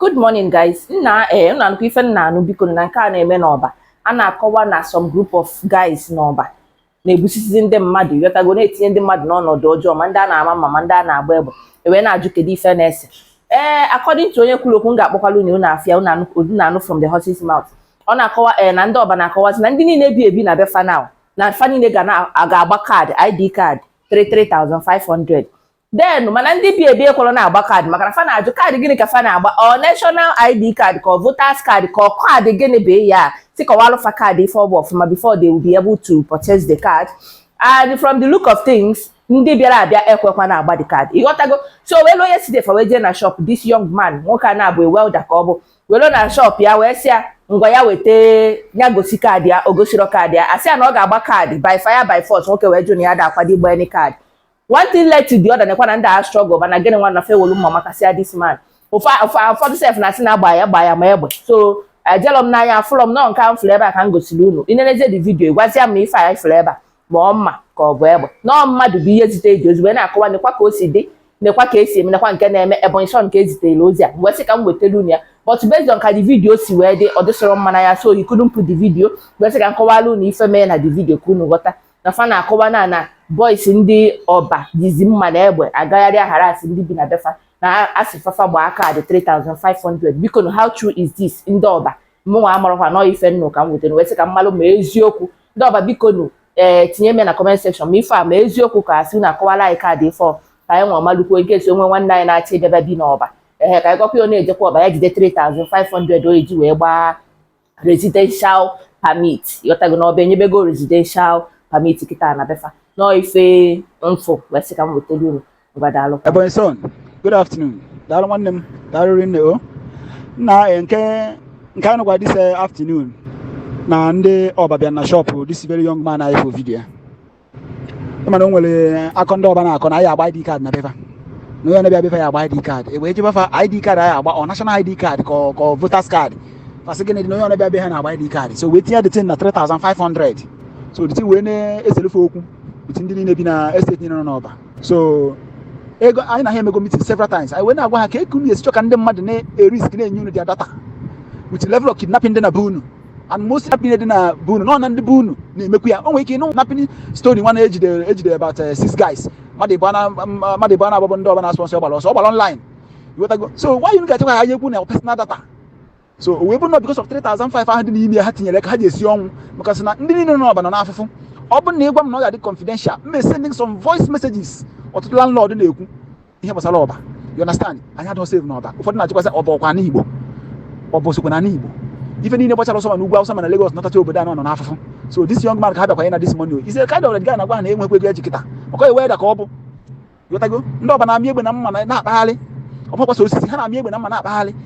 good morning guys nna ee eh, nna nnukwu ife m na-anụ biko na nke a na-eme n'ọba a na-akọwa na some group of guys n'ọba na-egbusisizi ndị mmadụ ịghọtago na-etinye ndị mmadụ n'ọnọdụ ọjọọ ma ndị a na-ama mma ma ndị a na-agba egbe ewee na-ajụ kedu ife na-ese ee eh, according to onye kwuru okwu m ga-akpọkwalụ unu unu afụ ya unu anụ from the horse's mouth ọ na-akọwa ee eh, na ndị ọba na-akọwazi na ndị niile bi ebi na be fa now na fa niile ga-agba kaadị id kaadị 33500 then mana ndị bi ebi ekwerọ na-agba kaadị maka na fa na-ajụ kaadị gịnị ka fa na-agba ọ national id kaadị ka ọ voters kaadị ka ọ kaadị gịnị bụ ya tikọwalụ fa kaadị ife ọ bụ ọfụma before they will be able to purchase the card and from the look of things ndị bịara abịa ekwekwa na-agba the card ịghọtago so wee luo yesterday fa wee jee na shop this young man nwoke a na-abụ welder ka ọ bụ wee luo na shop ya wee sị ya ngwa ya weta ya gosi kaadị ya o gosirọ kaadị ya asị ya na ọ ga-agba kaadị by fire by force nwoke wee jụ na ya ada akwado ịgba any kaadị one thing led to the other nekwa na ndị a struggle mana gịnị nwa na fa welu mma makasịa this man ụfọdụ sef na asị na agba ya gba ya ma egbe so ejelọ m n'anya afụlọ m nọ nke m fụrụ ebe a ka m gosiri unu i nenezie the video gwazia m ife anyị fụrụ ebe a ma ọ mma ka ọ bụ egbe nọọ mmadụ bụ ihe zite eji ozugbo na-akọwa nekwa ka o si dị nekwa ka esi eme nekwa nke na-eme ebonyi son ka ezitere ozi a wee sị ka m wetara unu ya but based on ka the video si wee dị ọ dịsịrọ mma n'anya so you couldn't put the video wee sị ka m kọwara unu ife mee na the video ka unu ghọta na fa na-akọwa na na boys ndị ọba jizi mma na egbe agagharị aghara asị ndị bi na befa na asị fa fa gbaa kaadị 3500 biko na how true is this ndị ọba mụnwa amarọkwa nọ ife m nụ ka m wetara wee sị ka m malụ ma ọ eziokwu ndị ọba biko nu ee eh, tinye m na comment section ma ife a ma eziokwu ka ọ asị na-akọwalụ anyị kaadị ife ka anyị nwa malụkwuo in case o nwee nwanne anyị na-achọ ijebe bi n'ọba ee ka anyị gwakwa ya ọ na-ejekwa ọba ya jide 3500 o eji wee gbaa residential permit ịghọtago na ọba enyebego residential permit kịta na befa nọọ ife m fụ wee sị ka m wetara unu ngwa daalụ Ebonyi son, good afternoon. Daalụ nwanne m, daalụ rinne o. Nna eh, nke nke anyị nụkwa this eh, afternoon na ndị ọba bịa na shop this very young man anyị fụ video. mana o nwere akọ ndị ọba na-akọ na anyị agba id kaadị na befa na onye na-abịa befa ya agba id kaadị ewee jụbe fa id kaadị anyị agba ọ national id kaadị ka ọ- ka ọ voters kaadị fa sị gịnị dị na onye na-abịa be ha na-agba id kaadị so wee tinye the thing na 3500 so the thing wee na-eselu fa okwu with ndị niile bi na estate niile nọ n'ọba so ego anyị na ha emego meeting several times anyị wee na-agwa ha kee ka unu esi chọ ka ndị mmadụ na-erisk na-enye unu their data with level of kidnapping dị na be unu and most kidnapping dị na be unu nọ na ndị be unu na-emekwu ya o nwere ike ịnụ kidnapping story nwa na-ejidere ejidere about eh, six guys mmadụ ịbụa na mmadụ ịbụa na agbabọ ndị ọba na-asụ ọsọ ọgbara ọsọ ọgbara online iwetago so why unu ga-achọkwa ka enyekwu unu personal data so o wee bụrụ na because of 3500 ahụ dị n'ime ya ha tinyere ka ha ji esi ọnwụ maka sị na ndị niile nọ n'ọba nọ n'afụfụ ọ bụrụ na ịgwa m na ọ ga-adị confidential m sending some voice messages ọtụtụ landlord na-ekwu ihe gbasara ọba you understand anyị adịghị safe na ọba ụfọdụ na-achịkwasị ọba ọkwa n'igbo ọba osokwa na n'igbo ife niile gbachara ọsọ ma n'ugwu awụsa ma na Lagos nọtacha obodo a nọ n'afụfụ so this young man ka ha bịakwa na this morning is a kind of guy na-agwa ha na enwekwa ego eji kịta ọkọ iwe da ka ọ bụ ghọtago ndị ọba na-amị egbe na mma na- na-akpagharị ọ bụkwa sọ osisi ha na-amị egbe na mma na-akpagharị